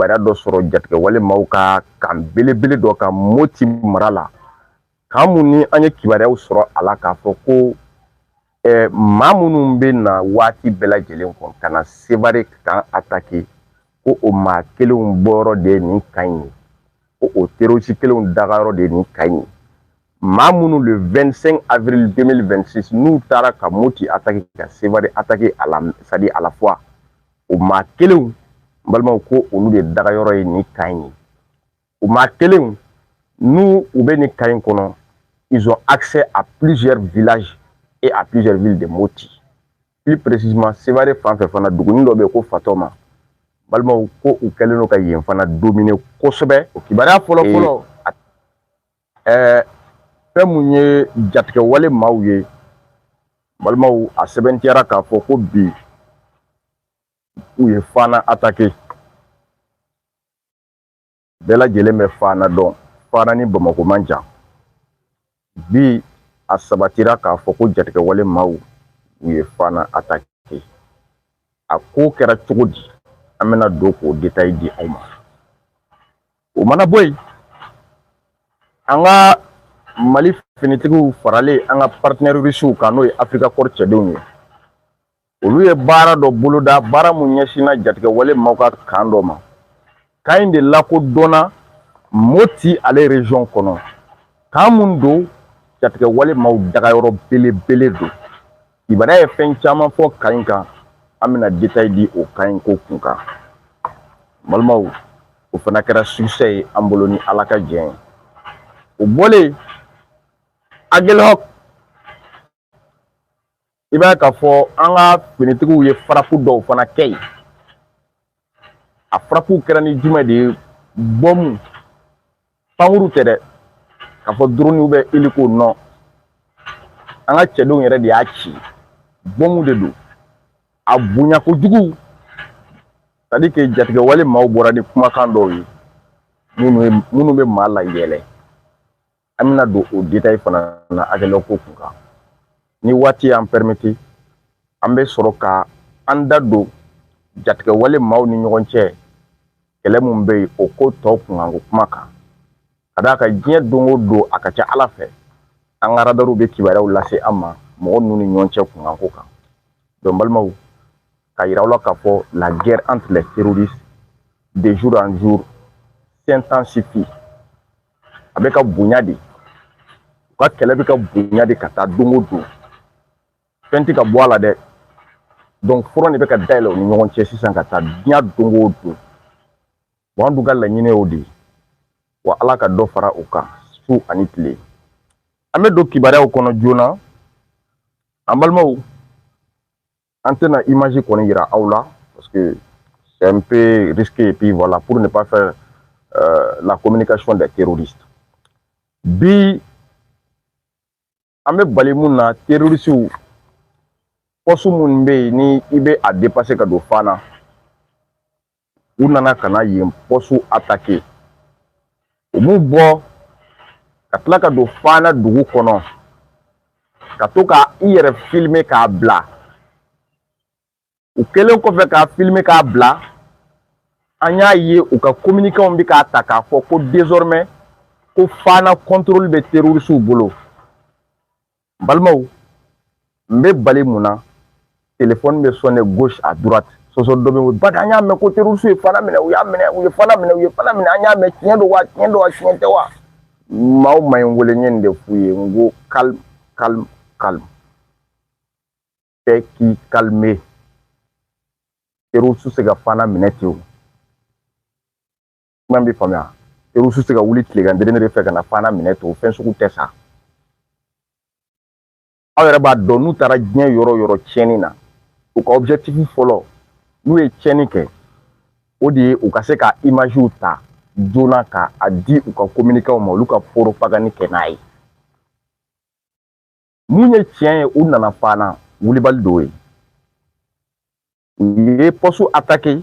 yamaruya dɔ sɔrɔ jatigɛwale maaw ka kan belebele dɔ kan moti mara la kan mun ni an ye kibaruyaw sɔrɔ a la k'a fɔ ko eh, maa minnu bɛ na waati bɛɛ lajɛlen kɔnɔ ka na sevare kan atake ko o maa kelenw bɔyɔrɔ de ye nin kan in ye ko o terorisi kelenw dagayɔrɔ de ye nin kan in ye maa minnu le 25 avril 2026 n'u taara ka moti atake ka sevare atake a la sadi à la fois o maa kelenw n balimaw ko olu de daga yɔrɔ ye nin kan in ye o maa kelenw n'u u bɛ nin kan in kɔnɔ ils ont accès à plusieurs villages et à plusieurs villes de Moti plus précisément Sévaré fan fɛ fana dugunin dɔ bɛ yen ko Fatɔma balimaw ko u kɛlen don ka yen fana dominer kosɛbɛ o kibaruya fɔlɔ fɔlɔ ɛɛ fɛn mun ye jatigɛwale maaw ye balimaw a sɛbɛntiyara k'a fɔ ko bi u ye fana atake bɛɛ lajɛlen bɛ fana dɔn fana ni bamakɔ man jan bi a sabatira k'a fɔ ko jatigɛwale maaw u ye fana atake a ko kɛra cogo di an bɛna don k'o detayi di aw ma o mana bɔ yen an ka mali finitigiw faralen an ka paritɛnɛri risiw kan n'o ye afirika kɔri cɛdenw ye olu ye baara dɔ boloda baara mun ɲɛsinna jatigɛwale maaw ka kan dɔ ma kan in de lakodɔnna moti ale rezɔn kɔnɔ kan mun don jatigɛwale maaw dagayɔrɔ belebele don Ibara ye fɛn caman fɔ kan in kan an bɛna detayi di o kan in ko kun kan balimaw o fana kɛra sukisɛ ye an bolo ni ala ka jɛ ye o bɔlen yen Aguelhok i b'a ye k'a fɔ an ka finitigiw ye farafu dɔw fana kɛ yen a farafuw kɛra ni jumɛn de ye bɔmu pankurun tɛ dɛ k'a fɔ dɔrɔniw bɛ eliko non an ka cɛdenw yɛrɛ de y'a ci bɔmu de don a bonya kojugu sadi ke jatigɛwale maaw bɔra ni kumakan dɔw ye minnu bɛ maa layɛlɛ an bɛna don o detail fana na Aguelhok ko kun kan ni waati y'an permete an bɛ sɔrɔ ka an da don jatigɛwale maaw ni ɲɔgɔn cɛ kɛlɛ min bɛ yen o ko tɔ kunkanko kuma kan ka d'a kan diɲɛ don o don a ka ca ala fɛ an ka radariw bɛ kibaruyaw lase an ma mɔgɔ ninnu ni ɲɔgɔn cɛ kunkanko kan donc balimaw k'a yira aw la k'a fɔ la guerre entre les terroristes de jour en jour s'intensifie a bɛ ka bonya de u ka kɛlɛ bɛ ka bonya de ka taa don o don fɛn tɛ ka bɔ a la dɛ donc front de bɛ ka dayɛlɛ u ni ɲɔgɔn cɛ sisan ka taa diɲɛ don o don wa an dun ka laɲini y'o de ye wa ala ka dɔ fara o kan su ani tile an bɛ don kibaruyaw kɔnɔ joona an balimaw an tɛna imaji kɔni yira aw la parce que c'est un peu risqué et puis voilà pour ne pas faire euh, la communication des terroristes bi an bɛ bali mun na terroristiw pɔsu min bɛ yen ni i bɛ a depase ka don fana u nana ka na yen pɔsu atake u b'u bɔ ka tila ka don fana dugu kɔnɔ ka to ka i yɛrɛ filime k'a bila o kɛlen kɔfɛ k'a filime k'a bila an y'a ye u ka kominikɛnw bɛ k'a ta k'a fɔ ko désormais ko fana contrôle bɛ terroristes bolo n balimaw n bɛ bali mun na telefɔni bɛ sonner gauche à droite sɔsɔ dɔ bɛ wuli bari an y'a mɛn ko terroriste ye fana minɛ u y'a minɛ u ye fana minɛ u ye fana minɛ an y'a mɛn tiɲɛ don wa tiɲɛ don wa tiɲɛ tɛ wa maa o maa ye n wele n ye nin de f'u ye n ko calme calme calme bɛɛ k'i calmer terroriste tɛ se ka fana minɛ ten o kuma bɛ faamuya terroriste tɛ ka wuli tilegan dɛrɛmɛ de fɛ ka na fana minɛ to fɛn sugu tɛ sa aw yɛrɛ b'a dɔn n'u taara diɲɛ yɔrɔ o yɔrɔ tiɲɛni na u ka objectif fɔlɔ n'u ye tiɲɛni kɛ o de ye u ka se ka imagew ta joona ka a di u ka kominikaw ma olu ka poropagani kɛ n'a ye mun ye tiɲɛ ye u nana fana wulibali dɔw ye u ye pɔsu atake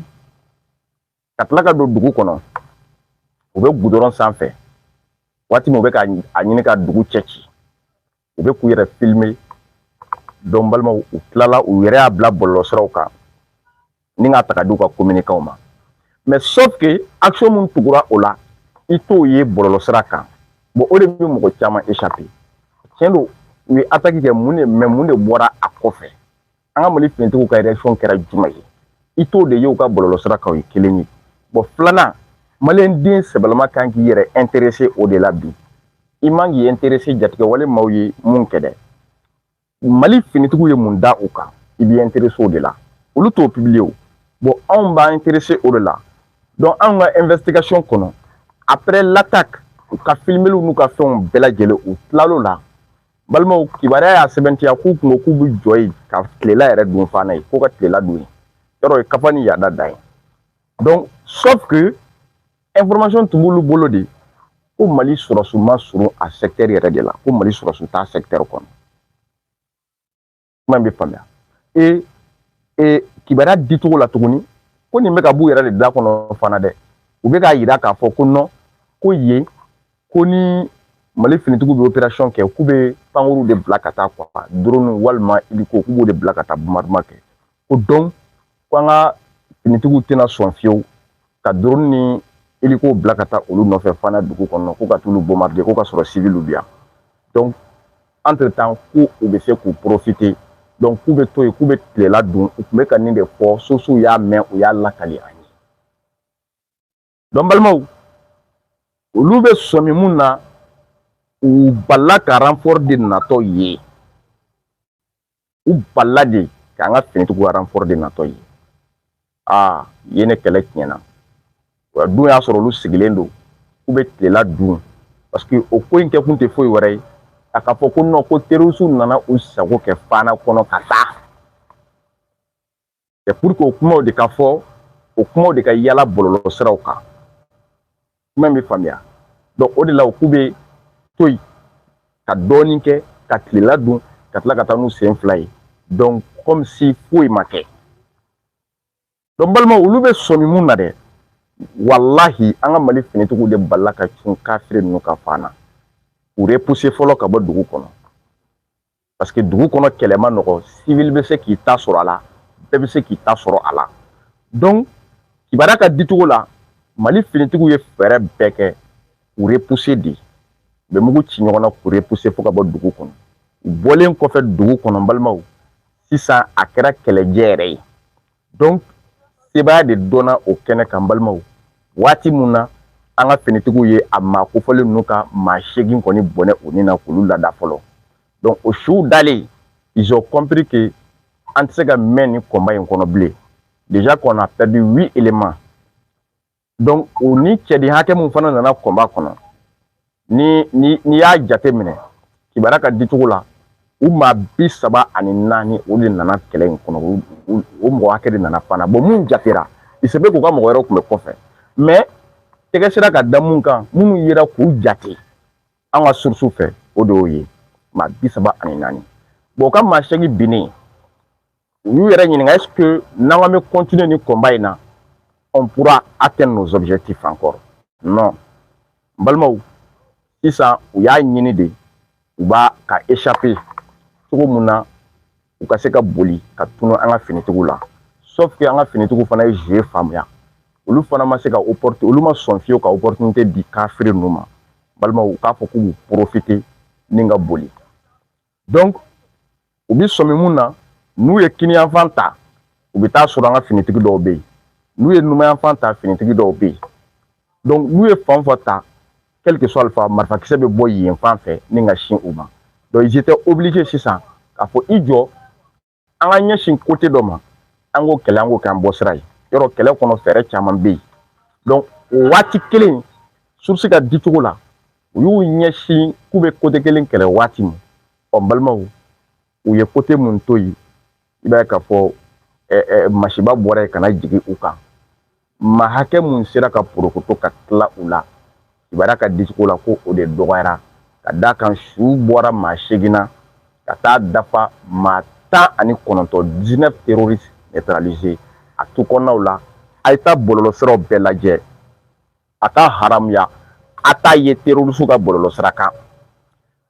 ka tila ka don dugu kɔnɔ u bɛ gudɔrɔn sanfɛ waati min u bɛ ka a ɲini ka dugu cɛ ci u bɛ k'u yɛrɛ filime donc balimaw u tilala u yɛrɛ y'a bila bɔlɔlɔsiraw kan ni k'a ta ka di u ka kominikaw ma mais sauf que action min tugura o la i t'o ye bɔlɔlɔsira kan bon o de bɛ mɔgɔ caman échapper tiɲɛ don u ye attaque kɛ mun de mais mun de bɔra a kɔfɛ an ka mali finitigiw ka réaction kɛra jumɛn ye i t'o de ye u ka bɔlɔlɔsira kan o ye kelen ye bon filanan maliyɛn den sɛbɛlama ka kan k'i yɛrɛ ɛnterese o de la bi i man kan k'i ɛnterese jatigɛwale maaw ye mun kɛ dɛ mali finitigiw ye mun da u kan i b'i ɛnterese o de la olu t'o pibiliye o bon anw b'an ɛnterese o de la donc anw ka ɛnvɛsitigasiɔn kɔnɔ après l'attaque u ka filimeliw n'u ka fɛnw bɛɛ lajɛlen u tilal'o la balimaw kibaruya y'a sɛbɛntiya k'u kun ko k'u bɛ jɔ yen ka tilela yɛrɛ dun fana yen k'u ka tilela dun yɔrɔ ye kafa ni yaada dan ye donc sauf que information tun b'olu bolo de ko mali sɔrɔdasiw ma surun a secteur yɛrɛ de la ko mali sɔrɔdasiw t'a secteur kɔnɔ kuma in bɛ faamuya ee ee kibaruya dicogo la tuguni ko nin bɛ ka b'u yɛrɛ de da kɔnɔ fana dɛ u bɛ k'a yira k'a fɔ ko non ko yen ko ni mali finitigiw bɛ operasiyɔn kɛ k'u bɛ pankuruw de bila ka taa quoi doroniw walima hélico k'u b'o de bila ka taa bombardement kɛ ko donc ko an ka finitigiw tɛna sɔn fewu ka drone ni hélico bila ka taa olu nɔfɛ fana dugu kɔnɔ ko ka t'olu bombarder ko ka sɔrɔ civiliw bɛ yan donc entre temps ko u bɛ se k'u profiter donc k'u bɛ to yen k'u bɛ tilela dun u tun bɛ ka nin de fɔ sosow y'a mɛn u y'a lakali an ye donc balimaw olu bɛ sɔmi mun na u bala ka renfort de natɔ ye u bala de k'an ka finitigiw renfort de natɔ ye aa ye ne kɛlɛ tiɲɛna o dun y'a sɔrɔ olu sigilen don k'u bɛ tilela dun parce que o ko in kɛkun tɛ foyi wɛrɛ ye a ka fɔ ko non ko terorisiw nana u sago kɛ fana kɔnɔ ka taa Et pour que o kumaw de ka fɔ o kumaw de ka yala bɔlɔlɔ siraw kan kuma bɛ faamuya donc o de la u k'u bɛ to yen ka dɔɔnin kɛ ka tilela dun ka tila ka taa n'u sen fila ye donc comme si foyi ma kɛ donc balima olu bɛ sɔmi mun na dɛ walahi an ka mali finitigiw de bala ka cun kafiri ninnu ka fan na u repousse fɔlɔ ka bɔ dugu kɔnɔ parce que dugu kɔnɔ kɛlɛ ma nɔgɔ civil bɛ se k'i ta sɔrɔ a la bɛɛ bɛ se k'i ta sɔrɔ a la donc kibaruya ka dicogo la mali finitigiw ye fɛɛrɛ bɛɛ kɛ k'u repousse de u bɛ mugu ci ɲɔgɔn na k'u repousse fo ka bɔ dugu kɔnɔ u bɔlen kɔfɛ dugu kɔnɔ n balimaw sisan a kɛra kɛlɛjɛ yɛrɛ ye donc sebaya de dɔnna o kɛnɛ kan balimaw waati mun na an ka finitigiw ye a maa kofɔlen ninnu ka maa seegin kɔni bɔnɛ u ni na k'olu lada fɔlɔ donc o suw dalen ils ont compris que an tɛ se ka mɛn nin combat in kɔnɔ bilen déjà qu'on a perdu huit éléments donc u ni cɛden hakɛ min fana nana combat kɔnɔ ni ni n'i y'a jate minɛ kibaruya ka dicogo la u maa bi saba ani naani o de nana kɛlɛ in kɔnɔ o mɔgɔ hakɛ de nana fana bon mun jatera il se peut k'u ka mɔgɔ wɛrɛw tun bɛ kɔfɛ mais tɛgɛ sera ka da mun kan minnu yera k'u jate an ka source fɛ o de y'o ye maa bi saba ani naani bon o ka maa seegin binnen u y'u yɛrɛ ɲininka est ce que n'an k'an bɛ continuer ni combat in na on pourra atteindre nos objectifs encore non n balimaw sisan u y'a ɲini de u b'a ka échapper cogo mun na u ka se ka boli ka tunu an ka finitigiw la sauf que an ka finitigiw fana ye jeu faamuya olu fana ma se ka opportunité olu ma sɔn fiyewu ka opportunité di kafiri ninnu ma balimaw u k'a fɔ k'u b'u profiter ni ka boli donc u bi sɔmi mun na n'u ye kiniyanfan ta u bɛ taa sɔrɔ an ka finitigi dɔw bɛ yen n'u ye numanyanfan ta finitigi dɔw bɛ yen donc n'u ye fan o fan ta quelque soit le fan marifakisɛ bɛ bɔ yen fan fɛ ni ka sin u ma donc ils étaient obligés sisan k'a fɔ i jɔ an ka ɲɛsin kote dɔ ma an k'o kɛlɛ an k'o kɛ an bɔ sira ye yɔrɔ kɛlɛ kɔnɔ fɛɛrɛ caman bɛ yen donc o waati kelen surusi ka di cogo la u y'u ɲɛsin k'u bɛ kote kelen kɛlɛ waati min ɔ n balimaw u ye kote mun to yen i b'a ye k'a fɔ masiba bɔra yen ka na jigin u kan maa hakɛ mun sera ka porokoto ka tila u la kibaruya ka dicogo la ko o de dɔgɔyara ka d'a kan su bɔra maa seegin na ka taa dafa maa tan ani kɔnɔntɔn dix-neuf terroristes neutralisés a tu kɔnɔnaw la a ye taa bɔlɔlɔsiraw bɛɛ lajɛ a ka haramuya a t'a ye terroriste ka bɔlɔlɔsira kan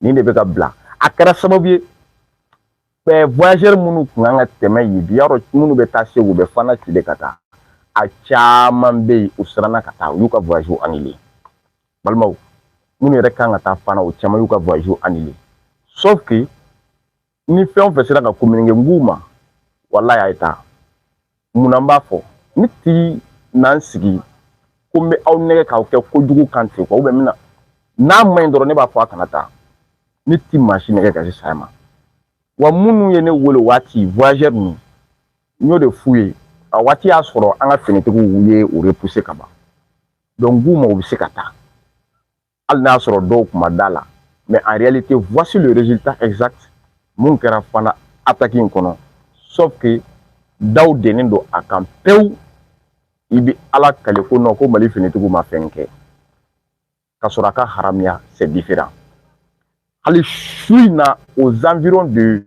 nin de bɛ k'a bila a kɛra sababu ye ɛɛ voyageur minnu kun kan ka tɛmɛ yen bi yɔrɔ minnu bɛ taa segu u bɛ fana tigɛ ka taa a caman bɛ yen u siranna ka taa u y'u ka voyage annulé balimaw minnu yɛrɛ kan ka taa fana u caman y'u ka voyage annulé sauf que ni fɛn o fɛn sera ka kominike n k'u ma walayi a ye taa mun na n b'a fɔ ne ti na n sigi ko n bɛ aw nɛgɛ k'aw kɛ kojugu kan ten quoi n bɛna n'a ma ɲi dɔrɔn ne b'a fɔ a kana taa ne ti maa si nɛgɛ ka se saya ma wa minnu ye ne wele waati voyageur ninnu n y'o de f'u ye a waati y'a sɔrɔ an ka finitigiw ye o repoussé ka ban donc n k'u ma u bɛ se ka taa hali n'a sɔrɔ dɔw kun ma d'a la mais en réalité voici le résultat exact mun kɛra fana attaque in kɔnɔ sauf que daw dennen don a kan pewu i bɛ ala kale ko non ko mali finitigiw ma fɛn kɛ k'a sɔrɔ a ka haramuya c'est différent hali su in na aux environs de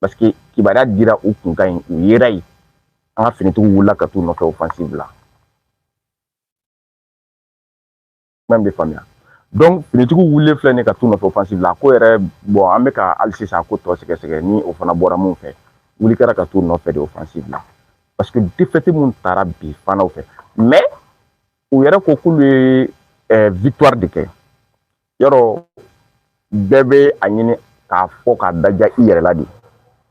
paseke kibaruya dira u kunkan ni u yera yen an ka finitigiw wulila ka t'u nɔfɛ offensive la kuma in bɛ faamuya finitigiw wulilen filɛ nin ka t'u nɔfɛ offensive la a ko yɛrɛ bɔn an bɛ ka hali sisan a ko tɔ sɛgɛsɛgɛ ni o fana bɔra mun fɛ wuli kɛra ka t'u nɔfɛ de offensive la paseke défaite mun taara bi fanaw fɛ mais u yɛrɛ ko k'olu ye victoire de kɛ yɔrɔ bɛɛ bɛ a ɲini k'a fɔ k'a daja i yɛrɛ la de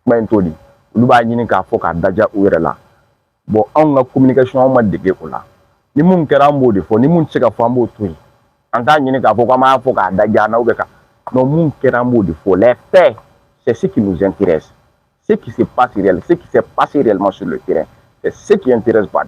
kuma in t'o di olu b'a ɲini k'a fɔ k'a daja u yɛrɛ la bon anw ka communication anw ma dege o la ni min kɛra an b'o de fɔ ni min tɛ se ka fɔ an b'o to yen an t'a ɲini k'a fɔ k'an b'a fɔ k'a daja an na bɛ ka non min kɛra an b'o de fɔ les faits c'est ce qui nous intéresse ce qui se passe réel ce qui s'est passé réellement sur le terrain c'est ce qui intéresse Bad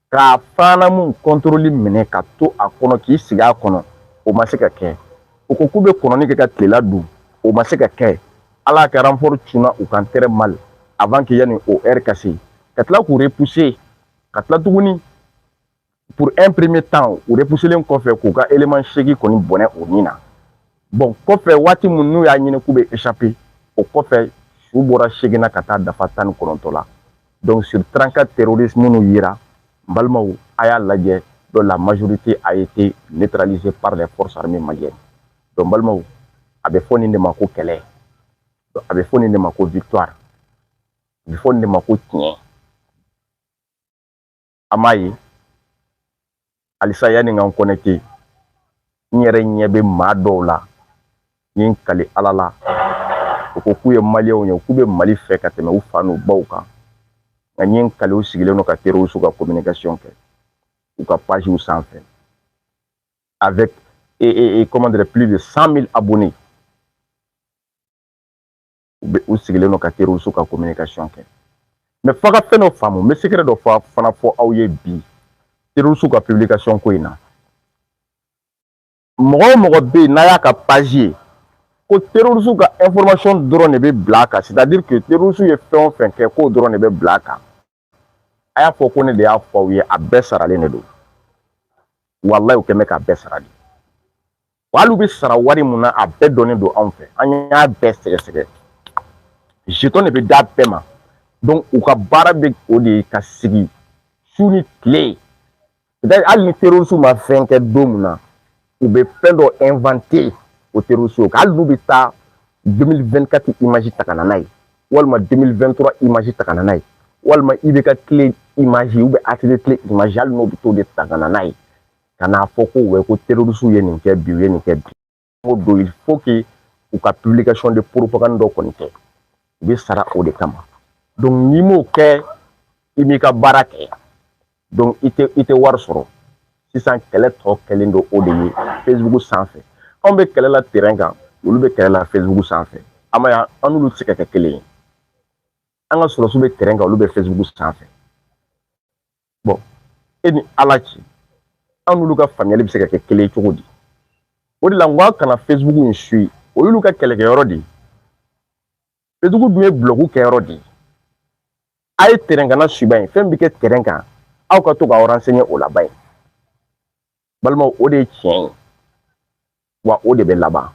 K'a fanamu kɔntɔrɔli minɛ ka to a kɔnɔ k'i sigi a kɔnɔ o ma se ka kɛ u ko k'u bɛ kɔnɔni kɛ ka tilela dun o ma se ka kɛ ala ka renfort cunna u kan très mal avant que yanni o ɛri ka se ka tila k'u repuse ka tila tuguni pour un premier temps u repuselen kɔfɛ k'u ka eleman segin kɔ ni bɔnɛ o ni na bon kɔfɛ waati min n'u y'a ɲini k'u bɛ échapper o kɔfɛ su bɔra segin na ka taa dafa tan ni kɔnɔntɔ la donc sur 34 terroristes minnu yera n balimaw a y'a lajɛ donc la majorité a été neutralisée par les forces armées maliennes donc n balimaw a bɛ fɔ nin de ma ko kɛlɛ a bɛ fɔ nin de ma ko victoire a bɛ fɔ nin de ma ko tiɲɛ a m'a ye halisa yanni n ka n kɔnɛkite n yɛrɛ ɲɛ bɛ maa dɔw la n ye n kali ala la u ko k'u ye maliyɛnw ye k'u bɛ mali fɛ ka tɛmɛ u fa n'u baw kan nka n ye n kali u sigilen don ka terorisiw ka communication kɛ u ka pagew sanfɛ avec et, et, et comment dire plus de 100 000 abonnés u bɛ u sigilen don ka terorisi ka kominikasɔn kɛ mɛ f'a ka fɛn dɔ faamu n bɛ sekɛrɛ dɔ fɔ fana fɔ aw ye bi terorisi ka pibilikasɔn ko in na mɔgɔ o mɔgɔ bɛ yen n'a y'a ka pazi ye ko terorisi ka ɛnfɔrɔmasɔn dɔrɔn de bɛ bila a kan sɛtadiri ke terorisi ye fɛn o fɛn kɛ k'o dɔrɔn de bɛ bila a kan a y'a fɔ ko ne de y'a fɔ aw ye a bɛɛ saralen de don walayi u kɛ mɛ k'a bɛɛ sara de wa hali u bɛ sara wari min na a bɛɛ dɔnnen don anw fɛ an y'a bɛɛ sɛgɛsɛgɛ jetɔn de bɛ d'a bɛɛ ma donc u ka baara bɛ o de ye ka sigi su ni tile hali ni terorisiw ma fɛn kɛ don min na u bɛ fɛn dɔ ɛnwante o terorisiw kan hali n'u bɛ taa 2024 imaji ta ka na n'a ye walima 2023 imaji ta ka na n'a ye walima i bɛ ka tile imaji u bɛ atelier tile imaji hali n'o bɛ t'o de ta ka na n'a ye ka n'a fɔ ko wɛ ko terorisiw ye nin kɛ bi u ye nin kɛ bi ko don il faut que u ka publication de propagande dɔ kɔni kɛ u bɛ sara o de kama donc n'i m'o kɛ i m'i ka baara kɛ donc i tɛ i tɛ wari sɔrɔ sisan kɛlɛ tɔ kɛlen don o de ye facebook sanfɛ anw bɛ kɛlɛ la terrain kan olu bɛ kɛlɛ la facebook sanfɛ a m'a ye an n'olu tɛ se ka kɛ kelen ye an ka sɔrɔdasiw bɛ terrain kan olu bɛ facebook sanfɛ bɔn e ni ala cɛ an n'olu ka faamuyali bɛ se ka kɛ kelen cogo di o de la n ko a kana facebook in suivi o y'olu ka kɛlɛkɛyɔrɔ de ye facebook dun ye bulɔku kɛyɔrɔ de ye a ye tɛrɛn kanna suivi a ye fɛn bɛ kɛ tɛrɛn kan aw ka to k'aw ransɛɲɛ o laba ye balimaw o de ye tiɲɛ ye wa o de bɛ laban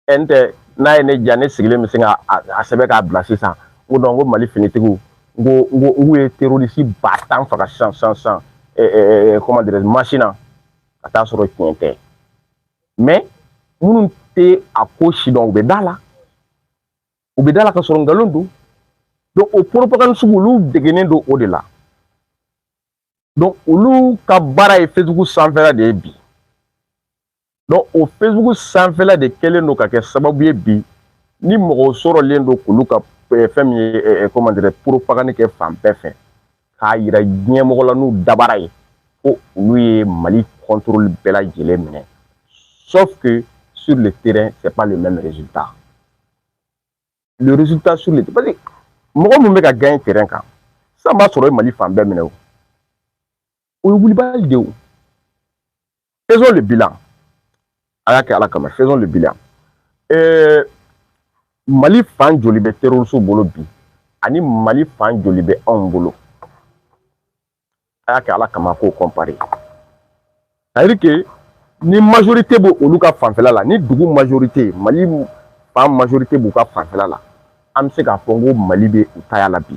n tɛ n'a ye ne diya ne sigilen bɛ se ka a sɛbɛn k'a bila sisan n ko ko mali finitigiw n ko n ko u ye terorisi ba tan faga sisan sisan sisan ɛɛ comment dirais masina ka taa sɔrɔ tiɲɛ tɛ mais minnu tɛ a ko sidɔn u bɛ da a la u bɛ da a la ka sɔrɔ nkalon don donc o propagande sugu olu degennen don o de la donc olu ka baara ye facebook sanfɛla de ye bi donc o facebook sanfɛla de kɛlen don ka kɛ sababu ye bi ni mɔgɔw sɔrɔlen don k'olu ka eh, fɛn min ye eh, eh, comment dire propagande kɛ fan bɛɛ fɛ k'a yira diɲɛmɔgɔ la n'u dabara ye ko olu ye mali contrôle bɛɛ lajɛlen minɛ sauf que sur le terrain c'est pas le même résultat le résultat sur le parce que mɔgɔ min bɛ ka gagner terrain kan sisan b'a sɔrɔ o ye mali fan bɛɛ minɛ o o ye wulibali de ye o faisons le bilan a y'a kɛ ala kama faisons le bilan ɛɛ eh, mali fan joli bɛ terrorisiw bolo bi ani mali fan joli bɛ anw bolo a y'a kɛ ala kama k'o kɔnpare c'est-à-dire que ni majorité bɛ olu ka fanfɛla la ni dugu majorité mali fan majorité b'u ka fanfɛla la an bɛ se k'a fɔ ko mali bɛ u taya la bi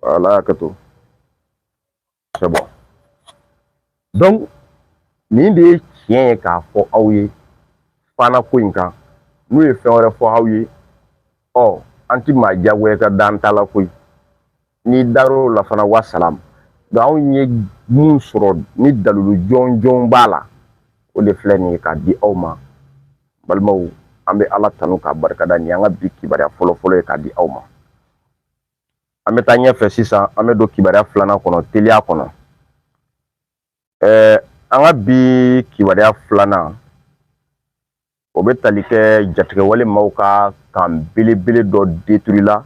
Voilà, Kato. C'est bon. Donc, nin de ye tiɲɛ ye k'a fɔ aw ye fana ko in kan n'u ye fɛn wɛrɛ fɔ aw ye ɔ an ti maa diyagoya ka da an ta la koyi n'i dar'o la fana wa salam nka anw ye mun sɔrɔ ni dalilu jɔnjɔn b'a la o de filɛ nin ye k'a di aw ma balimaw an bɛ ala tanu k'a barikada nin y'an ka bi kibaruya fɔlɔfɔlɔ ye k'a di aw ma an bɛ taa ɲɛfɛ sisan an bɛ don kibaruya filanan kɔnɔ teliya kɔnɔ ɛɛ an ka bi kibaruya filanan o bɛ tali kɛ jatigɛwale maaw ka kan belebele dɔ détruire la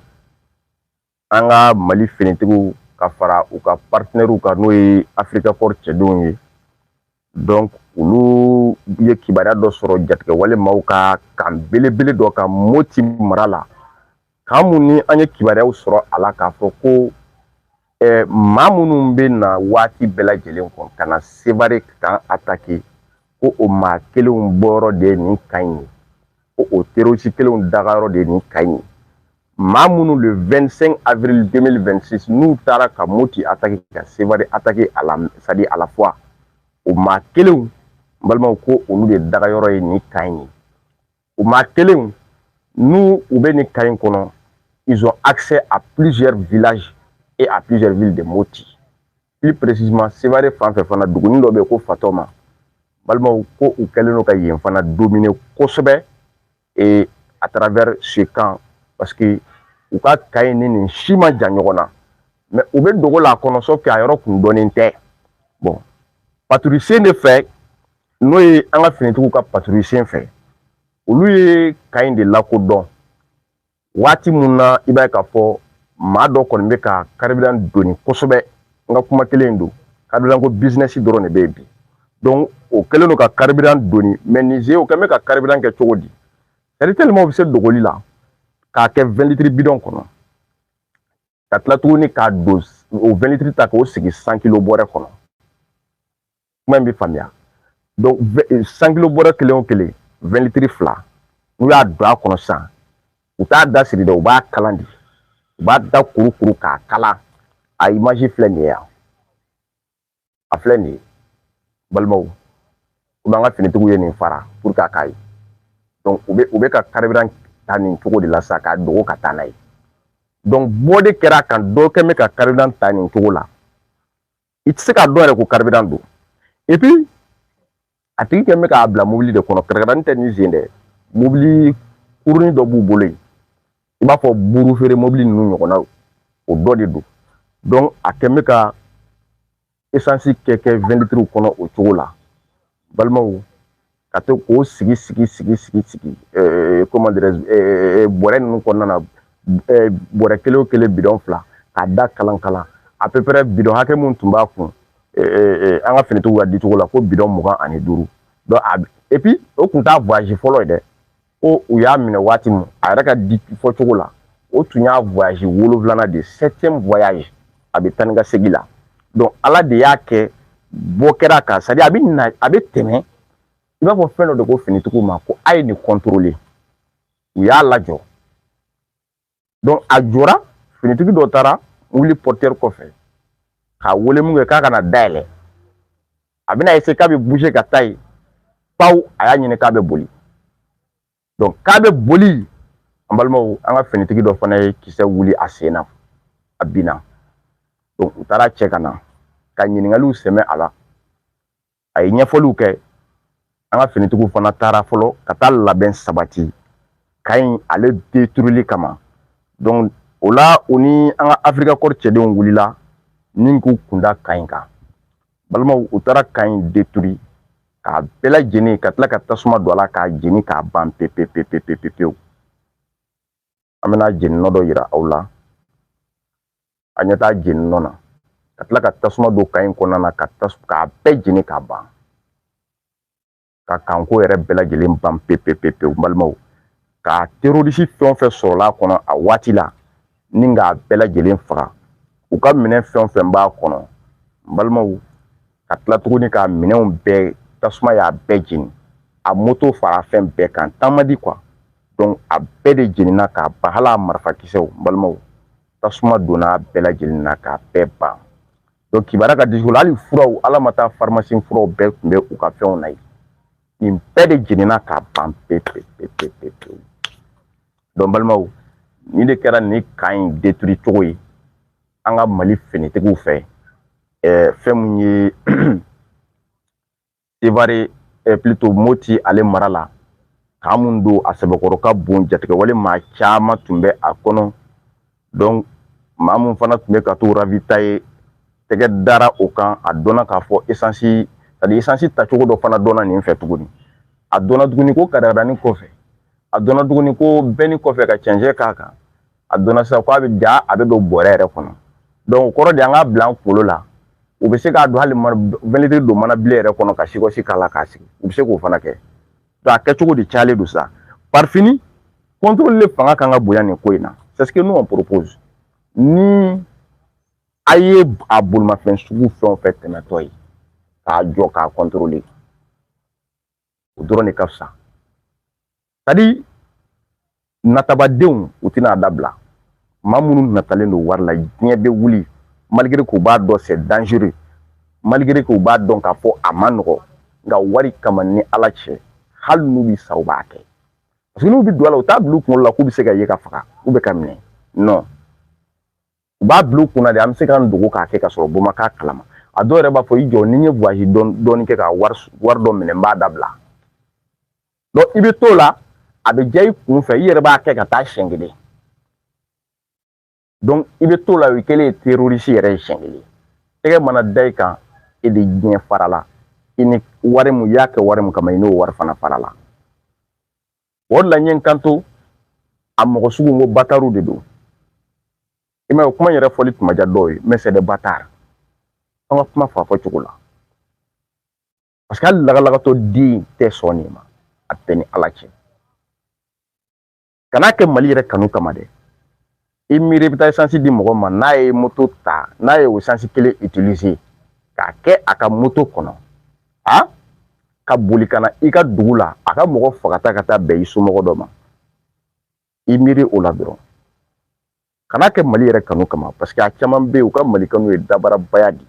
an ka mali finitigiw ka fara u ka partenɛriw kan n'o ye Africa Corps cɛdenw ye donc olu ye kibaruya dɔ sɔrɔ jatigɛwale maaw ka kan belebele dɔ kan moti mara la kan mun ni an ye kibaruyaw sɔrɔ a la k'a fɔ ko eh, maa minnu bɛ na waati bɛɛ lajɛlen kɔnɔ ka na sebare kan atake ko o maa kelenw bɔyɔrɔ de ye nin kan ye ko o terroriste kelenw dagayɔrɔ de ye nin kan in ye maa minnu le 25 avril 2026 n'u taara ka moti atake ka sevari atake a la sadi à la fois o maa kelenw n balimaw ko olu de dagayɔrɔ ye nin kan in ye o maa kelenw n'u u bɛ nin kan in kɔnɔ ils ont accès à plusieurs villages et à plusieurs villes de moti plus précisément Sévaré fan fɛ fana dugunin dɔ bɛ yen ko Fatɔma balimaw ko u kɛlen don ka yen fana dominer kosɛbɛ et à travers ce camp parce que u ka kan in ni nin si man jan ɲɔgɔn na mais u bɛ dogo la a kɔnɔ sauf que a yɔrɔ kun dɔnnen tɛ bon paturi sen de fɛ n'o ye an ka finitigiw ka paturi sen fɛ olu ye kan in de lakodɔn waati mun na i b'a ye k'a fɔ maa dɔ kɔni bɛ ka karibiran doni kosɛbɛ n ka kuma kelen don karibiran ko bizinɛsi dɔrɔn de bɛ yen bi donc o kɛlen don ka karibiran doni mɛ nin ze o kɛlen bɛ ka karibiran kɛ cogo di ɛ nin tile maaw bɛ se dogoli la k'a kɛ wɛn litiri bidɔn kɔnɔ ka tila tuguni k'a don o wɛn litiri ta k'o sigi san kilo bɔrɛ kɔnɔ kuma in bɛ faamuya donc san kilo bɔrɛ kelen o kelen wɛn litiri fila n'u y'a don a kɔnɔ sisan u t'a da siri dɛ u b'a kalan de u b'a da kurukuru k'a kala a imazi filɛ nin ye yan a filɛ nin ye balimaw bon an ka finitigiw ye nin fara pour que a k'a ye donc u bɛ u bɛ ka karibiran ta nin cogo de la sa k'a dogo ka taa n'a ye donc bɔ de kɛra a kan dɔ kɛn bɛ ka karibiran ta nin cogo la i tɛ se k'a dɔn yɛrɛ ko karibiran don et puis a tigi kɛn bɛ k'a bila mobili de kɔnɔ katakatanin tɛ nin sen dɛ mobili kurunin dɔ b'u bolo yen i b'a fɔ buru feere mobili ninnu ɲɔgɔnna o dɔ de don a kɛn bɛ ka esansi kɛ kɛ wɛn litiriw kɔnɔ o cogo la balimaw ka to k'o sigi sigi sigi sigi sigi comment dirais bɔrɛ ninnu kɔnɔna na bɔrɛ kelen o kelen bidɔn fila k'a da kalan kalan à peu près bidɔn hakɛ mun tun b'a kun an ka finitigiw ka dicogo la ko bidɔn mugan ani duuru epi o kun t'a voyazi fɔlɔ ye dɛ ko u y'a minɛ waati min a yɛrɛ ka di fɔcogo la o tun y'a voyazi wolonwulana de septième voyage a bɛ taa ni ka segin la donc ala de y'a kɛ bɔ kɛra a kan sadi a bɛ na a bɛ tɛmɛ i b'a fɔ fɛn dɔ de ko finitigiw ma ko a ye nin u y'a lajɔ a jɔra finitigi dɔ taara wuli portière kɔfɛ k'a wele mun kɛ k'a kana a dayɛlɛ a bɛna eseye k'a bɛ puse ka taa yen paw a y'a ɲini k'a bɛ boli k'a bɛ boli an balimaw an ka finitigi dɔ fana ye kisɛ wuli a sen na a binna u taara a cɛ ka na ka ɲininkaliw sɛmɛ a la a ye ɲɛfɔliw kɛ an ka finitigiw fana taara fɔlɔ ka taa labɛn sabati kan in ale deturili kama donc o la u ni an ka afirika kɔri cɛdenw wulila ni k'u kunda kan in kan balimaw u taara kan in deturi k'a bɛɛ lajɛlen ka tila ka tasuma don a la k'a jeni k'a ban pepepepepepepewu an bɛna jeni nɔ dɔ yira aw la a ɲɛ t'a jeni nɔ na ka tila ka tasuma don kan in kɔnɔna na ka tas k'a bɛɛ jeni k'a ban ka kan ko yɛrɛ bɛɛ lajɛlen ban pepepepewu balimaw ka terorisi fɛn o fɛn sɔrɔla a kɔnɔ a waati la ni k'a bɛɛ lajɛlen faga u ka minɛn fɛn o fɛn b'a kɔnɔ n balimaw ka tila tuguni ka minɛnw bɛɛ tasuma y'a bɛɛ jeni a moto fara fɛn bɛɛ kan taama di kuwa donc a bɛɛ de jenina k'a ban hali a marifakisɛw n balimaw tasuma donna a bɛɛ lajɛlen na k'a bɛɛ ban donc kibaruya ka disi hali furaw ala ma taa farimasi furaw bɛɛ tun bɛ u ka fɛnw na yen nin bɛɛ de jenina k'a ban pewu pewu pewu pewu pewu donc balimaw nin de kɛra nin kan in deturi cogo ye an ka mali finitigiw fɛ ɛɛ fɛn mun ye sevare plutôt moti ale mara la kan mun don a sɛbɛkɔrɔ ka bon jatigɛwale maa caman tun bɛ a kɔnɔ donc maa mun fana tun bɛ ka to ravitaye tɛgɛ dara o kan a dɔnna k'a fɔ esansi sadi esansi tacogo dɔ fana dɔnna nin fɛ tuguni a dɔnna tuguni ko katakatanin kɔfɛ a dɔnna tuguni ko bɛni kɔfɛ ka cɛncɛn k'a kan a dɔnna sisan k'a bɛ ja a bɛ don bɔrɛ yɛrɛ kɔnɔ o kɔrɔ de an k'a bila an kunkolo la u bɛ se k'a don hali mɛlɛtiri don mana bilen yɛrɛ kɔnɔ ka sikɔsi k'a la k'a sigi u bɛ se k'o fana kɛ a kɛcogo de cayalen don sa parifini kɔntoli fanga kan ka bonya nin ko in na c'est ce que n'o propose ni a ye a bolimafɛn sugu fɛn o fɛn tɛmɛtɔ ye k'a jɔ k'a kɔntoli o dɔrɔn de ka fisa sadi natabadenw u tɛna a dabila maa minnu natalen don wari la diɲɛ bɛ wuli malgré k'u b'a dɔn c'est dangereux malgré k'u b'a dɔn k'a fɔ a ma nɔgɔ nka wari kama ni ala cɛ hali n'u bɛ sa u b'a kɛ parce que n'u bɛ don a la u t'a bila u kunkolo la k'u bɛ se ka ye ka faga k'u bɛ ka minɛ non u b'a bila u kunna de an bɛ se k'an dogo k'a kɛ ka sɔrɔ bɔ ma k'a kalama a dɔw yɛrɛ b'a fɔ i jɔ ni n ye voyage dɔɔni kɛ ka wari wari dɔ minɛ n b'a dabila i bɛ t'o la a bɛ diya i kun fɛ i yɛrɛ b'a kɛ ka taa siɲɛ kelen i bɛ t'o la o kɛlen ye terorisi yɛrɛ ye siɲɛ kelen tɛgɛ mana da i kan e ni diɲɛ farala i ni wari mun i y'a kɛ wari mun kama i n'o wari fana farala o de la n ye n kanto a mɔgɔ sugu ko batariw de don i m'a ye kuma yɛrɛ fɔli tun ma diya dɔw ye mais c'est des bâtards an ka kuma f'a fɔcogo la parce que hali lagalagatɔ den tɛ sɔn nin ma a b'e ni ala cɛ kan'a kɛ mali yɛrɛ kanu kama dɛ i miiri i bɛ taa esansi di mɔgɔ ma n'a ye moto ta n'a ye o esansi kelen utiliser k'a kɛ a ka moto kɔnɔ a ka boli ka na i ka dugu la a ka mɔgɔ fagata ka taa bɛn i somɔgɔ dɔ ma i miiri o la dɔrɔn kan'a kɛ mali yɛrɛ kanu kama parce que a caman bɛ yen u ka mali kanu ye dabarabaya de ye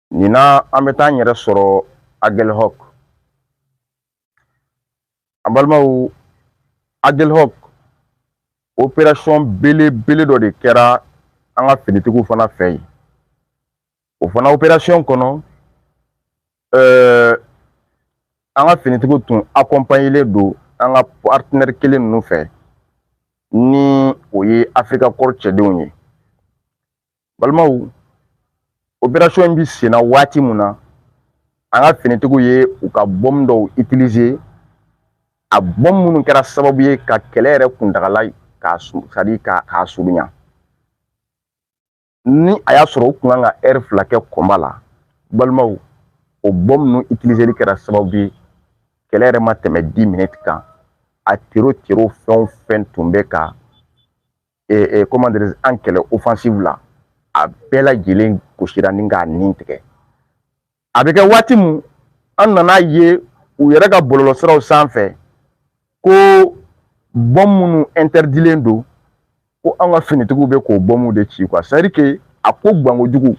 nin na an bɛ taa n yɛrɛ sɔrɔ agelhɔk an balimaw agelhɔk operasɔn belebele dɔ de kɛra an ka finitigiw fana fɛ yen o fana operasɔn kɔnɔ ɛɛ an ka finitigiw tun akɔnpanyelen don an ka partenaire kelen ninnu fɛ ni o ye africa corps cɛdenw ye balimaw operasɔn in bɛ senna waati mun na an ka finitigiw ye u ka bɔmu dɔw itilize a bɔmu minnu kɛra sababu ye ka kɛlɛ yɛrɛ kuntagala c'est-à-dire k'a surunya ni a y'a sɔrɔ u tun ka kan ka ɛri fila kɛ kɔnba la balimaw o bɔmu ninnu itilizeli kɛra sababu ye kɛlɛ yɛrɛ ma tɛmɛ dix minutes kan a tero tero fɛn o fɛn tun bɛ ka an kɛlɛ offensive la a bɛɛ lajɛlen gosira ni k'a nin tigɛ a bɛ kɛ waati min an nan'a ye u yɛrɛ ka bɔlɔlɔsiraw sanfɛ ko bɔn minnu ɛntɛridilen don ko an ka finitigiw bɛ k'o bɔmuw de ci quoi c'est-à-dire que a ko gbankojugu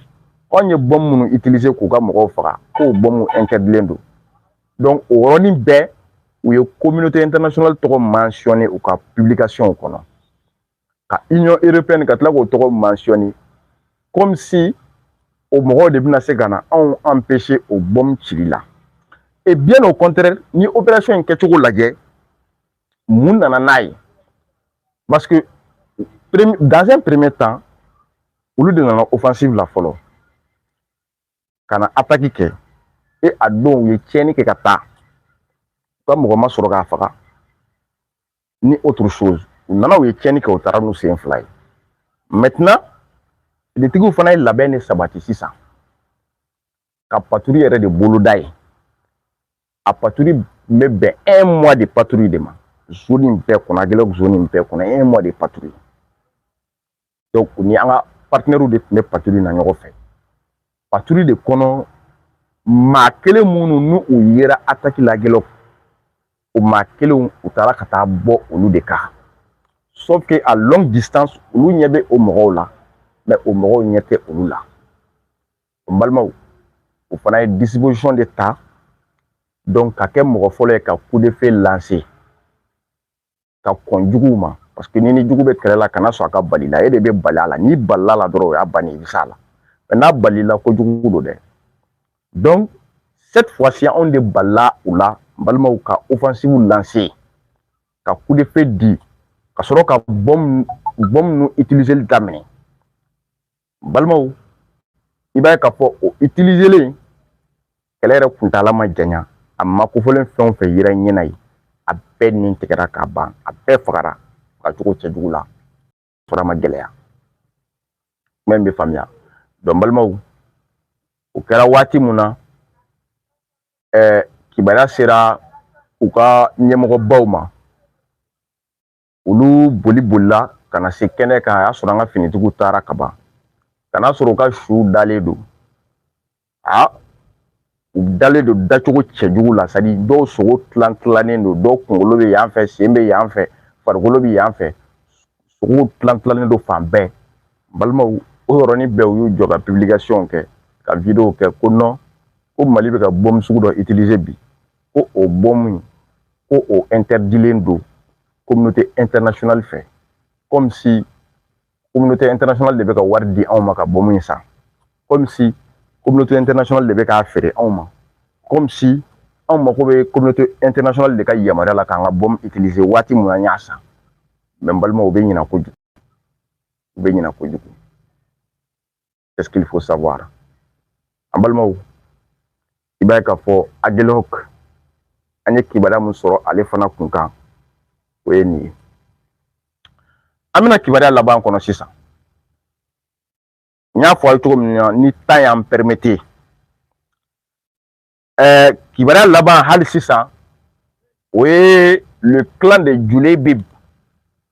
anw ye bɔn minnu itilize k'u ka mɔgɔw faga k'o bɔmuw ɛntɛridilen don o yɔrɔnin bɛɛ u ye tɔgɔ mansinɛ u ka kɔnɔ ka i ɲɔ ere ka tila k'o tɔgɔ mansinɛ kɔmimi o mɔgɔw de bɛna se ka na anw an pe se o bɔ ci la e bi n'o kɔnte ni o bɛ so in kɛcogo lajɛ mun nana n'a ye parce que dan peremɛ tan olu de nana ofasi la fɔlɔ ka na ataki kɛ e a don u ye tiɲɛni kɛ ka taa u ka mɔgɔ ma sɔrɔ k'a faga ni autre chose u nana u ye tiɲɛni kɛ u taara n'u sen fila ye maintenant finitigiw fana ye labɛn de sabati sisan ka paturi yɛrɛ de boloda yen a paturi bɛ bɛn un mois de paturi de ma zoni bɛɛ kɔnɔ agelok zoni bɛɛ kɔnɔ un mois de paturi donc u ni an ka partenaires de tun bɛ paturi na ɲɔgɔn fɛ paturi de kɔnɔ maa kelen minnu ni u yera ataki la agelok o maa kelenw u taara ka taa bɔ olu de kan sauf que à longue distance olu ɲɛ bɛ o mɔgɔw la mais o mɔgɔw ɲɛ tɛ olu la n balimaw u fana ye disposition de ta donc ka kɛ mɔgɔ fɔlɔ ye ka coup de feu lancer ka kɔn juguw ma parce que n'i ni jugu bɛ kɛlɛ la kana sɔn a ka bali i la e de bɛ bali a la n'i balila a la dɔrɔn o y'a bannen i bɛ s'a la mais n'a balila kojugu don dɛ donc cette fois ci anw de balila u la n balimaw ka offensive lancer ka coup de feu di ka sɔrɔ ka bɔmu bɔmu ninnu utiliser daminɛ balimaw i b'a ye k'a fɔ o itilizelen kɛlɛ yɛrɛ kuntaala ma janya a maa kofɔlen fɛn o fɛn yera ɲɛ na yen a bɛɛ ni tigɛra k'a ban a bɛɛ fagara fagacogo cɛjugu la sɔrɔ ma gɛlɛya kuma in bɛ faamuya dɔn balimaw o kɛra waati mun na ɛɛ kibaruya sera u ka ɲɛmɔgɔbaw ma olu boli bolila ka na se kɛnɛ kan a y'a sɔrɔ an ka finitigiw taara ka ban ka n'a sɔrɔ u ka suw dalen don a u dalen don dacogo cɛjugu la c'est-à-dire dɔw sogo tilan tilannen don dɔw kunkolo bɛ yan fɛ sen bɛ yan fɛ farikolo bɛ yan fɛ sogow tilan tilannen don fan bɛɛ balimaw o yɔrɔnin bɛɛ u y'u jɔ ka pibilikasiyɔn kɛ ka wideyo kɛ ko non ko mali bɛ ka bɔmu sugu dɔ itilize bi ko o bɔmu in ko o interdilen don communauté internationale fɛ comme si communauté internationale de bɛ ka wari di anw ma ka bɔmu in san comme si communauté internationale de bɛ k'a feere anw ma comme si anw mako bɛ communauté internationale de ka yamaruya la k'an ka bɔmu utiliser waati mun an y'a san mais n balimaw u bɛ ɲinɛ kojugu u bɛ ɲinɛ kojugu c'est ce qu'il faut savoir n balimaw i b'a ye k'a fɔ agelok an ye kibaruya min sɔrɔ ale fana kun kan o ye nin ye an bɛna kibaruya laban kɔnɔ sisan n y'a fɔ aw ye cogo min na ni temps y'an pɛrimete kibaruya laban hali sisan o ye le clan de jule bib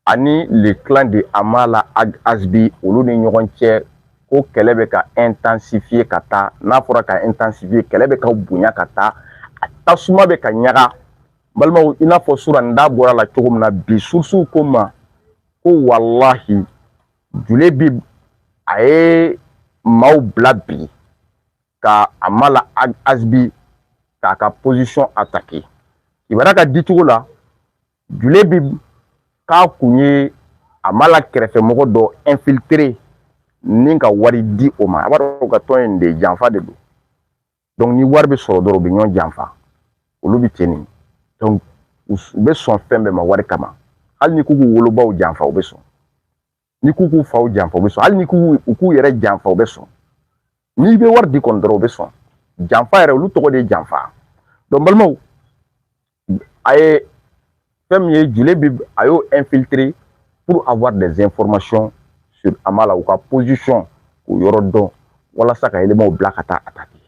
ani le clan de amala ag azbi olu ni ɲɔgɔn cɛ ko kɛlɛ bɛ ka intensifier ka taa n'a fɔra ka intensifier kɛlɛ bɛ ka bonya ka taa a tasuma bɛ ka ɲaga balimaw i n'a fɔ sura n da bɔra a la cogo min na bi surusuw ko ma ko walahi jule bib a ye maaw bila bi ka amala azbi k'a ka position attaquer kibaruya ka dicogo la jule bib k'a kun ye amala kɛrɛfɛmɔgɔ dɔ infiltrer ni ka wari di o ma a b'a dɔn ka tɔn in de janfa de don donc ni wari bɛ sɔrɔ dɔrɔn u bɛ ɲɔgɔn janfa olu bɛ ten nin donc u bɛ sɔn fɛn bɛɛ ma wari kama hali n'i k'u k'u wolobaw janfa u bɛ sɔn n'i k'u k'u faw janfa u bɛ sɔn hali n'i ko u k'u yɛrɛ janfa u bɛ sɔn n'i bɛ wari di kɔni dɔrɔn u bɛ sɔn janfa yɛrɛ olu tɔgɔ de ye janfa donc balimaw a ye fɛn min ye jule bib a y'o infiltrer pour avoir des informations sur Amala u ka position k'o yɔrɔ dɔn walasa ka elemanw bila ka taa attaquer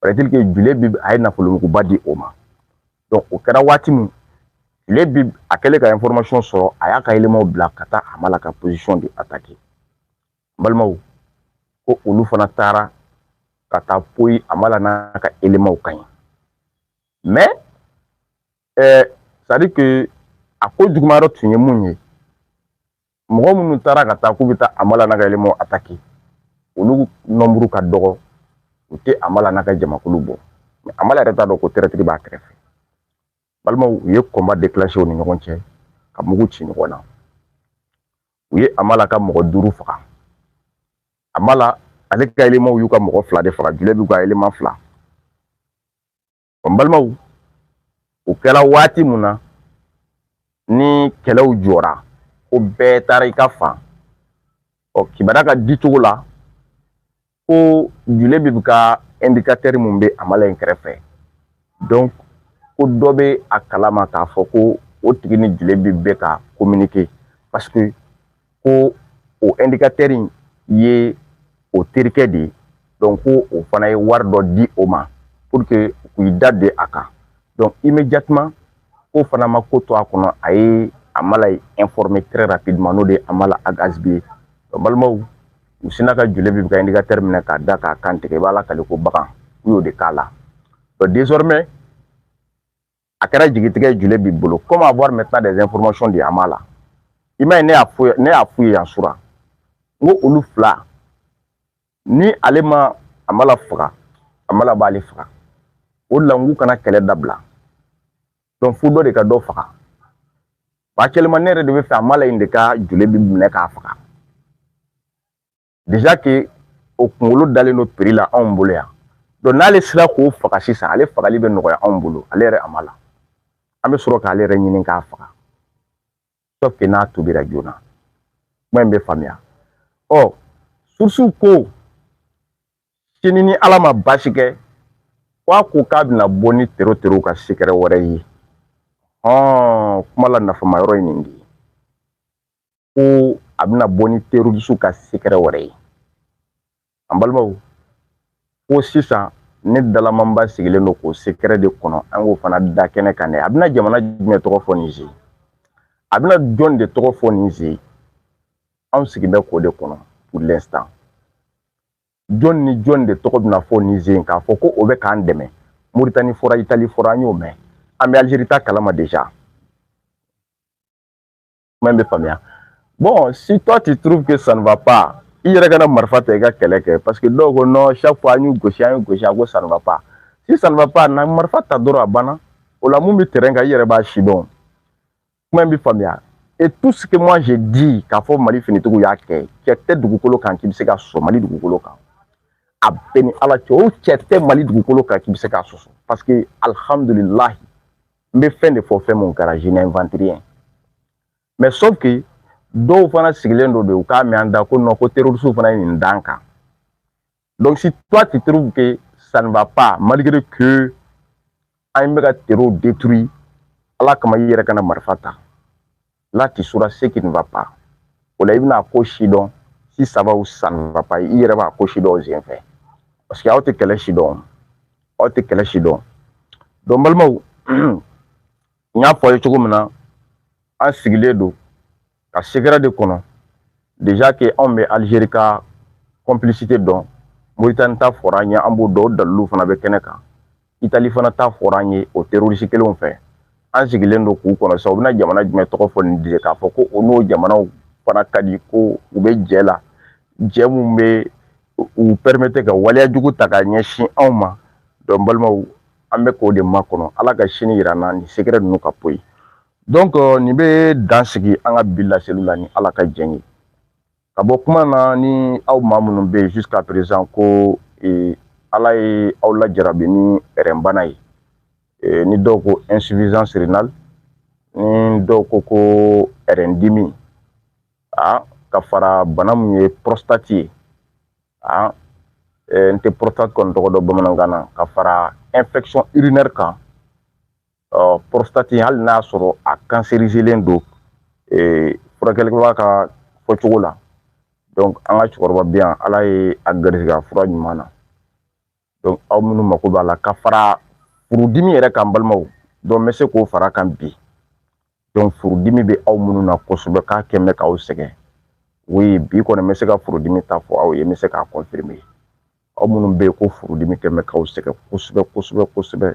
paraît-il que jule bib a ye nafolomuguba di o ma donc o kɛra waati min jule bib a kɛlen ka information sɔrɔ a y'a ka elemanw bila ka taa amala ka position de attaquer balimaw ko olu fana taara ka taa poyi amala n'a ka elemanw kan yen mais euh, c'est à dire que a ko jugumayɔrɔ tun ye mun ye mɔgɔ minnu taara ka taa k'u bɛ taa amala n'a ka elemanw attaquer olu nɔnburu ka dɔgɔ u tɛ amala n'a ka jamakulu bɔ mais amala yɛrɛ t'a dɔn ko tɛrɛtiri b'a kɛrɛfɛ balimaw u ye combat déclencher u ni ɲɔgɔn cɛ ka mugu ci ɲɔgɔn na u ye amala ka mɔgɔ duuru faga amala ale ka elemanw y'u ka mɔgɔ fila de faga jule bib ka eleman fila n balimaw o kɛra waati mun na ni kɛlɛw jɔra ko bɛɛ taara i ka fan ɔ kibaruya ka di cogo la ko jule bib ka ɛndikatɛri mun bɛ amala in kɛrɛfɛ donc ko dɔ bɛ a kalama k'a fɔ ko o tigi ni jule bib bɛ ka kominike paseke ko o in ye o terikɛ de ye ko o fana ye wari dɔ di o ma u k'i da de a kan i bɛ jatuma ko fana ma ko to a kɔnɔ a ye a ma ye n'o de a ma a garisigi ye balimaw u sin ka joli bɛ ka teri minɛ k'a da k'a kantigɛ i b'a la kale ko bagan u y'o de k'a la a kɛra jigitigɛ julebi bolo comment avoir maintenant des informations de amala i ma ye ne y'a fɔ ne y'a f'u ye yan sura n ko olu fila ni ale ma amala faga amala b'ale faga o de la n k'u kana kɛlɛ dabila donc fo dɔ de ka dɔ faga walima ne yɛrɛ de b'a fɛ amala in de ka julebi minɛ k'a faga déjà que o kunkolo dalen don prix la anw bolo yan donc n'ale sera k'o faga sisan ale fagali bɛ nɔgɔya anw bolo ale yɛrɛ amala an bɛ sɔrɔ k'ale yɛrɛ ɲini k'a faga sauf que n'a tuubira joona kuma in bɛ faamuya ɔ surusiw ko sini ni ala ma baasi kɛ k'a ko k'a bɛna bɔ ni tero terow ka sikɛrɛ wɛrɛ ye hɔn kuma la nafama yɔrɔ ye nin de ye ko a bɛna bɔ ni terorisiw ka sekɛrɛ wɛrɛ ye an balimaw ko sisan ne dalamanba sigilen don k'o sekɛrɛ de kɔnɔ an k'o fana da kɛnɛ kan dɛ a bɛna jamana jumɛn tɔgɔ fɔ nin sen a bɛna jɔn de tɔgɔ fɔ nin sen anw sigilen bɛ k'o de kɔnɔ pour l'instant jɔn ni jɔn de tɔgɔ bɛna fɔ nin sen k'a fɔ ko o bɛ k'an dɛmɛ moritani fɔra itali fɔra an y'o mɛn an bɛ alizeri ta kalama deja kuma in bɛ faamuya bon si toi tu trouves que ça ne va pas i yɛrɛ ka na marifa ta i ka kɛlɛ kɛ parce que dɔw ko non chaque fois an y'u gosi an y'u gosi a ko ça ne va pas si ça ne va pas na marifa ta dɔrɔn a banna o la mun bɛ terrain kan i yɛrɛ b'a sidɔn kuma in bɛ faamuya et tout ce que moi j'ai dit k'a fɔ mali finitigiw y'a kɛ cɛ tɛ dugukolo kan k'i bɛ se ka sɔn mali dugukolo kan a bɛɛ ni ala cɛ o cɛ tɛ mali dugukolo kan k'i bɛ se k'a sɔsɔ parce que alihamudulilahi n bɛ fɛn de fɔ fɛn mun kɛra je n'invente rien mais sauf que dɔw fana sigilen don de u k'a mɛn an da kɔnɔ ko terorisiw fana ye nin dan kan donc si toi tu trouves que ça ne va pas malgré que an bɛ ka terow détruit ala kama i yɛrɛ ka na marifa ta là tu sauras ce qui ne va pas o la i bɛna a ko sidɔn si ça va ou ça ne va pas i yɛrɛ b'a ko sidɔn o sen fɛ parce que aw tɛ kɛlɛ si dɔn aw tɛ kɛlɛ si dɔn donc n balimaw n y'a fɔ aw ye cogo min na an sigilen don ka sekɛrɛ de kɔnɔ déjà que anw bɛ Algérie ka complicité dɔn Mauritanie ta fɔra an ye an b'o dɔn o dalilu fana bɛ kɛnɛ kan itali fana ta fɔra an ye o terorisi kelenw fɛ an sigilen don k'u kɔnɔ sa u bɛna jamana jumɛn tɔgɔ fɔ nin de k'a fɔ ko o n'o jamanaw fana ka di ko u bɛ jɛ la jɛ minnu bɛ u pɛrɛmete ka waleya jugu ta ka ɲɛsin anw ma donc n balimaw an bɛ k'o de makɔnɔ ala ka sini yira an na nin sekɛrɛ ninnu ka poyi donc nin bɛ dan sigi an ka bi laseli la ni ala ka jɛn ye ka bɔ kuma na ni aw maa minnu bɛ yen jusqu'à présent ko ee, ala ye aw lajarabi ni rɛnbana ye ee, ni dɔw ko insuffisance rénale ni dɔw ko ko rɛndimi a ka fara bana min ye prostate ye a ee, n tɛ prostate kɔni tɔgɔ dɔn bamanankan na ka fara infection urinaire kan ɔ porositati hali n'a sɔrɔ a kanserizilen don ee furakɛlikɛla ka fɔcogo la donc an ka cɛkɔrɔba bi yan ala ye a garisigɛ fura ɲuman na donc aw minnu mako b'a la ka fara furudimi yɛrɛ kan balimaw donc n bɛ se k'o fara kan bi donc furudimi bɛ aw minnu na kosɛbɛ k'a kɛ mɛ k'aw sɛgɛn oui bi kɔni n bɛ se ka furudimi ta fɔ aw ye n bɛ se k'a confirmer aw minnu bɛ yen ko furudimi kɛ mɛ k'aw sɛgɛn kosɛbɛ kosɛbɛ kosɛbɛ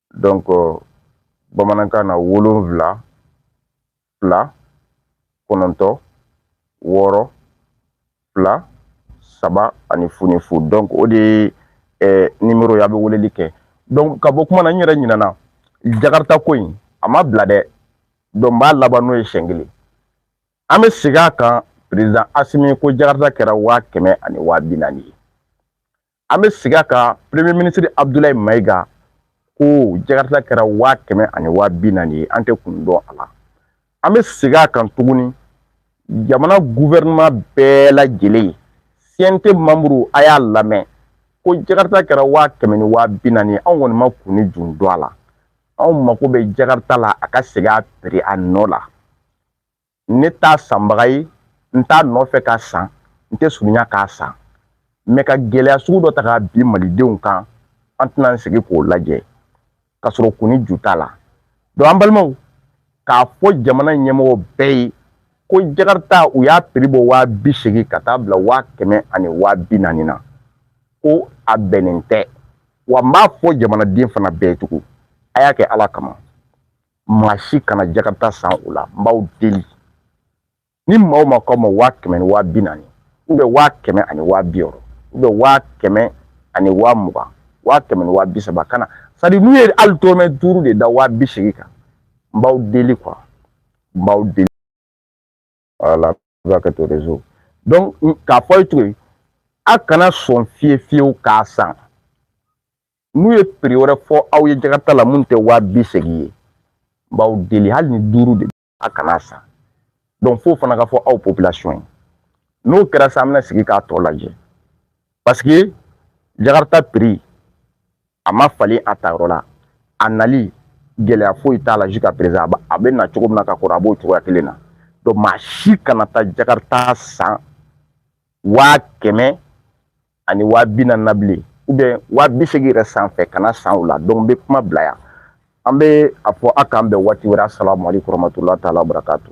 donc euh, bamanankan na wolonfila fila kɔnɔntɔn wɔɔrɔ fila saba ani fu ni fu donc o de ye eh, nimero ye a bɛ weleli kɛ donc ka bɔ kuma na n yɛrɛ ɲinɛna jakarita ko in a ma bila dɛ donc n b'a laban n'o ye siɲɛ kelen an bɛ segin a kan perezidan asimi ko jakarita kɛra waa kɛmɛ ani waa bi naani ye an bɛ segin a kan premier minisiri abudulayi mayiga ko jakarita kɛra waa kɛmɛ ani waa bi naani ye an tɛ kun dɔn a la an bɛ segin a kan tuguni jamana guvɛrɛnema bɛɛ lajɛlen cnt manburu a y'a lamɛn ko jakarita kɛra waa kɛmɛ ni waa bi naani ye anw kɔni ma kun ni ju dɔn a la anw mako bɛ jakarita la a ka segin a piri a nɔ la ne t'a sanbaga ye n t'a nɔfɛ k'a san n tɛ surunya k'a san mɛ ka gɛlɛya sugu dɔ ta k'a bin malidenw kan an tɛna an sigi k'o lajɛ ka sɔrɔ kun ni ju t'a la donc an balimaw k'a fɔ jamana ɲɛmɔgɔ bɛɛ ye ko jakarita u y'a piri bɔ waa bi seegin ka taa bila waa kɛmɛ ani waa bi naani na ko a bɛnnen tɛ wa n b'a fɔ jamanaden fana bɛɛ tugun a y'a kɛ ala kama maa si kana jakarita san o la n b'aw deli ni maa o maa k'aw ma waa kɛmɛ ni waa bi naani ubiyɛn waa kɛmɛ ani waa bi wɔɔrɔ ubiyɛn waa kɛmɛ ani waa mugan waa kɛmɛ ni waa bi saba kana san dɛ n'u ye hali dɔrɔmɛ duuru de da waa bi seegin kan n b'aw deli kuwa n b'aw deli wala ka kɛ to rezo donc k'a fɔ ye cogo ye a kana sɔn fewu fewu k'a san n'u ye piri wɛrɛ fɔ aw ye jakarita la min tɛ waa bi seegin ye n b'aw deli hali ni duuru de a kana san donc fo fana k'a fɔ aw population ye n'o kɛra sa an bɛna sigi k'a tɔ lajɛ parce que jakarita piri a ma falen a ta yɔrɔ la a nali gɛlɛya foyi t'a la jusqu'à présent a bɛ na cogo min na ka kɔrɔ a b'o cogoya kelen na donc maa si kana taa jakarita san waa kɛmɛ ani waa bi naani na bilen ou bien waa bi seegin yɛrɛ sanfɛ kan'a san o la donc n bɛ kuma bila yan an bɛ a fɔ a k'an bɛn waati wɛrɛ asalamu aleykum warahmatulahi taala wabarakatu